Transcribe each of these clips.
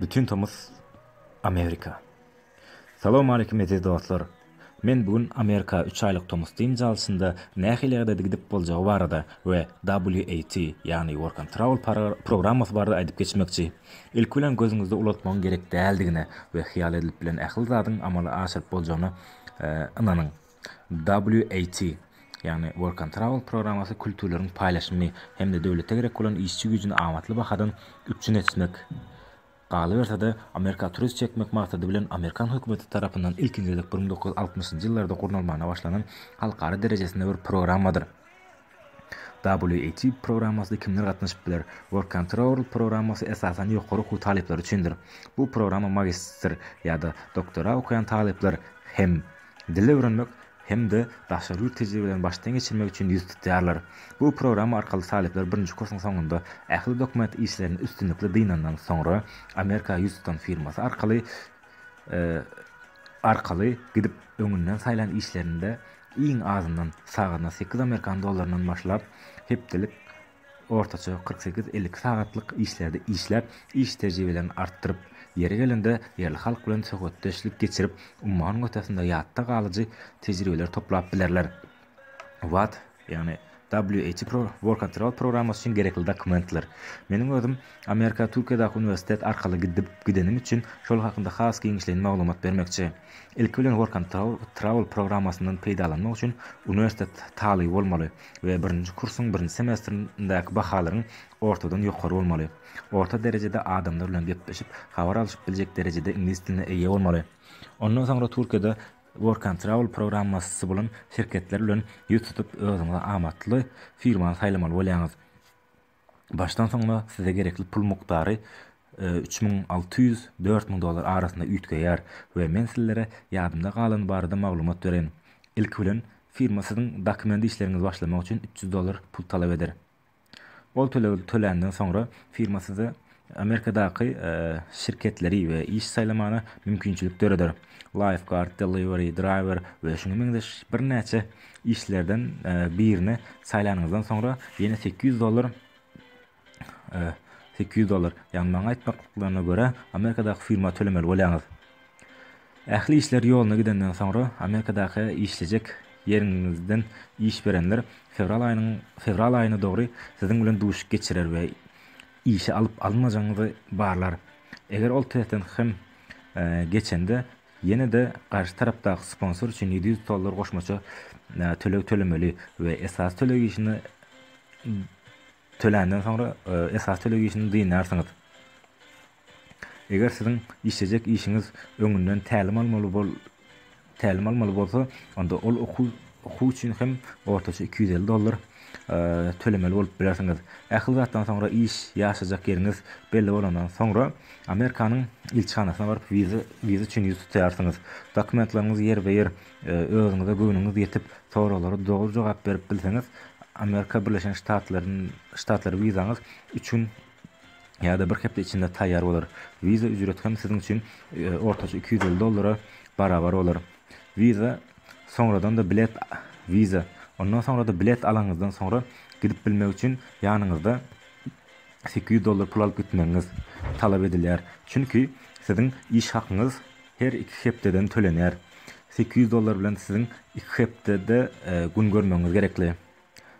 Bütin tomus Amerika. Salowmaleýkim eziz dostlar. Men bu gün Amerika üç aýlyk tomus dynç alşynda nähili ýagdaýda gidip boljagy barada we WAT, ýagny Work and Travel programmasy barada aýdyp geçmekçi. Ilki bilen gözüňizde ulaltmagyň gerek däldigine we hyýal edilip bilen ähli zadyň amala aşyryp boljagyna ynanyň. WAT, ýagny Work and Travel programmasy kültürleriň paýlaşymy hem-de döwlete gerek bolan işçi güýjüni amatly bahadan üpjün etmek, galyberse-de, Amerika turist çekmek maksady bilen amerikan hökümeti tarapyndan ilkinji gezek bir müň dokuz ýüz altmyşynjy ýyllarda gurnalmagyna başlanan halkara derejesinde bir programmadyr. WAT programmasyna kimler gatnaşyp biler? WorkControl programmasy esasan ýokary okuw talyplary üçindir. Bu programma magistr ýa-da doktora okaýan talyplar hem dil öwrenmek hem-de daşary ýurt tejribelerini başdan geçirmek üçin ýüz tutýarlar. Bu programma arkaly talyplar birinji kursyň soňunda ähli dokument işlerini üstünlikli dynandan soňra Amerika ýüz tutan firmasy arkaly arkaly gidip öňünden saýlan işlerinde iň azyndan sagadyna sekiz amerikan dollaryndan başlap hepdelik ortaça kyrk sekiz elli iki sagatlyk işlerde işläp iş tejribelerini artdyryp ýeri gelende ýerli halk bilen söhbetdeşlik geçirip ummanyň ötesinde ýatda galyjy tejribeleri toplap bilerler. Watt, ýagny WHPro workatroll programmasy üçin gerekli dokumentler. Meniň özüm Amerika Türkiýedäki uniwersitet arkaly gidip gidenim üçin şol hakynda has giňişleýin maglumat bermekçi. Ilki bilen workantroll trawl programmasyndan peýdalanmak üçin uniwersitet talyby bolmaly we birinji kursyň birinji semestrindäki bahalaryň ortadan ýokary bolmaly. Orta derejede adamlar bilen gepleşip habar alyşyp biljek derejede iňlis diline eýe bolmaly. Ondan soňra Türkiýede Workan Travel programmasy bolan şirketler bilen ýüz tutup özüňize amatly firmany saýlamaly bolýaňyz. Başdan soňuna size gerekli pul mukdary üç müň alty ýüz, dört müň dollar arasynda üýtgeýär we men sizlere ýadymda galany barada maglumat bereýin. Ilki bilen, firma siziň dokument işleriňizi başlamak üçin üç ýüz dollar pul talap eder. Ol tölegi töländen soňra firma size Amerikadaky şirketleri we iş saýlamaga mümkinçilik döreder. Lifeguard, delivery driver we şuňa meňzeş birnäçe işlerden birini saýlanyňyzdan soňra ýene sekiz ýüz dollar sekiz ýüz dollar, ýagny maňa aýtmaklaryna görä Amerikadaky firma tölemeli bolýaňyz. Ähli işler ýoluna gidenden soňra Amerikadaky işlejek ýeriňizden iş berenler fewral aýynyň fewral aýyna dogry siziň bilen duşuk geçirer we işe alyp alynmajagyňyzy barlar. Eger ol testden hem geçende ýene-de garşy tarapdaky sponsor üçin ýedi ýüz tollar goşmaça töleg tölemeli we esasy töleg işini töländen soňra esasy töleg işini dynýarsyňyz. Eger siziň işlejek işiňiz öňünden tälim almaly bol tälim almaly bolsa, onda ol okuw okuw üçin hem ortaça iki ýüz elli dollar tölemeli bolup bilersiňiz. Ähli zatdan soňra iş, ýaşajak ýeriňiz belli bolandan soňra, Amerikanyň ilçihanasyna baryp wiza wiza üçin ýüz tutýarsyňyz. Dokumentlaryňyz ýerbe-ýer, özüňize göwnüňiz ýetip, soraglara dogry jogap berip bilseňiz, Amerika Birleşen Ştatlaryn Ştatlary wizaňyz üç gün ýa-da bir hepde içinde taýýar bolar. Visa ücreti hem siziň üçin ortaça iki ýüz elli dollara barabar bolar. Visa soňradan-da bilet Visa ondan soňra-da bilet alanyňyzdan soňra gidip bilmek üçin ýanyňyzda sekiz ýüz dollar pul alyp gitmegiňiz talap edilýär. Çünki siziň iş hakyňyz her iki hepdeden tölenýär. Sekiz ýüz dollar bilen siziň iki hepdede gün görmegiňiz gerekli.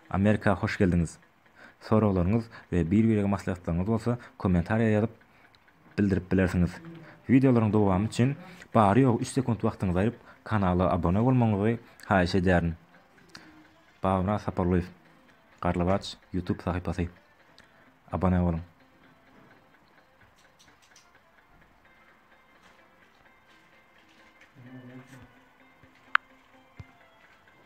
Amerika hoş geldiňiz! Soraglaryňyz we bir-birege maslahatlaryňyz bolsa kommentariýa ýazyp bildirip bilersiňiz. Wideolaryň dowamy üçin bary-ýogy üç sekunt wagtyňyzy aýryp kanala abone bolmagyňyzy haýyş edýärin. Babamyrat Saparlyýew, Garlybaç YouTube sahypasy. Abone boluň.